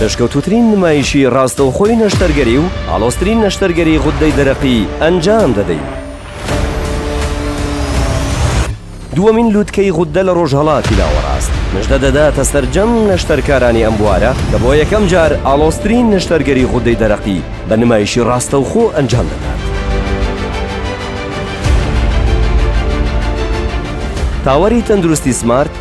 پێشکەوتوترین نمایشی ڕاستەوخۆی نەشتەرگەری و ئاڵۆسترین نەشتەرگەری غوددەی دەرەقی ئەنجام دەدەین. دووەمین لووتکەی غوددە لە ڕۆژهەڵاتی ناوەڕاست نشدە دەداتە سەرجەم نەشتەرکارانی ئەم بوارە کە بۆ یەکەم جار ئاڵۆسترین نەشتەرگەری غوددەی دەرەقی بە نمایشی ڕاستەوخۆ ئەنجام دەدات. تاوەری تەندروستی سمارت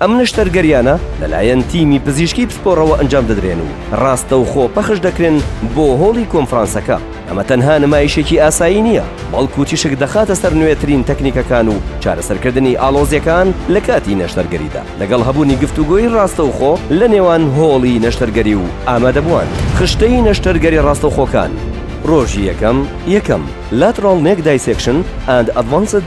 ئەم نەشتەرگەریانە لەلایەن تیمی پزیشکی پسپۆڕەوە ئەنجام دەدرێن و ڕاستەوخۆ پەخش دەکرێن بۆ هۆڵی کۆنفرانسەکە. ئەمە تەنها نمایشێکی ئاسایی نییە، بەڵکو تیشک دەخاتە سەر نوێترین تەکنیکەکان و چارەسەرکردنی ئاڵۆزییەکان لە کاتی نەشتەرگەریدا، لەگەڵ هەبوونی گفتوگۆی ڕاستەوخۆ لە نێوان هۆڵی نەشتەرگەری و ئامادەبووان. خشتەی نەشتەرگەری ڕاستەوخۆکان. ڕۆژی یەکەم، یەکەم، Lateral Neck Dissection and Advanced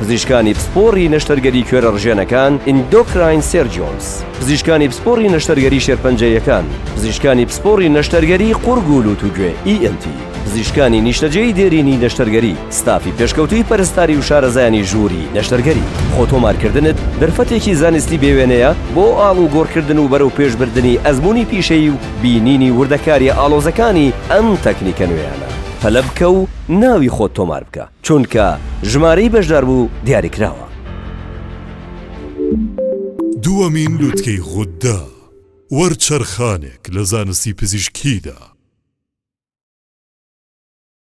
پزیشکانی پسپۆڕی نەشتەرگەری کوێرە ڕژێنەکان، Endocrine Surgeons، پزیشکانی پسپۆڕی نەشتەرگەری شێرپەنجەیەکان، پزیشکانی پسپۆڕی نەشتەرگەری قوڕگ و لووت و گوێ، ENT، پزیشکانی نیشتەجێی دێرینی نەشتەرگەری، ستافی پێشکەوتووی پەرستاری و شارەزایانی ژووری نەشتەرگەری. خۆتۆمارکردنت دەرفەتێکی زانستی بێوێنەیە بۆ ئاڵوگۆڕکردن و بەرەوپێشبردنی ئەزموونی پیشەیی و بینینی وردەکارییە ئاڵۆزەکانی ئەم تەکنیکە نوێیانە. پەلە بکە و ناوی خۆت تۆمار بکە. چونکە ژمارەی بەشداربوو دیاریکراوە. دووەمین لوتکەی غوددە، وەرچەرخانێک لە زانستی پزیشکیدا.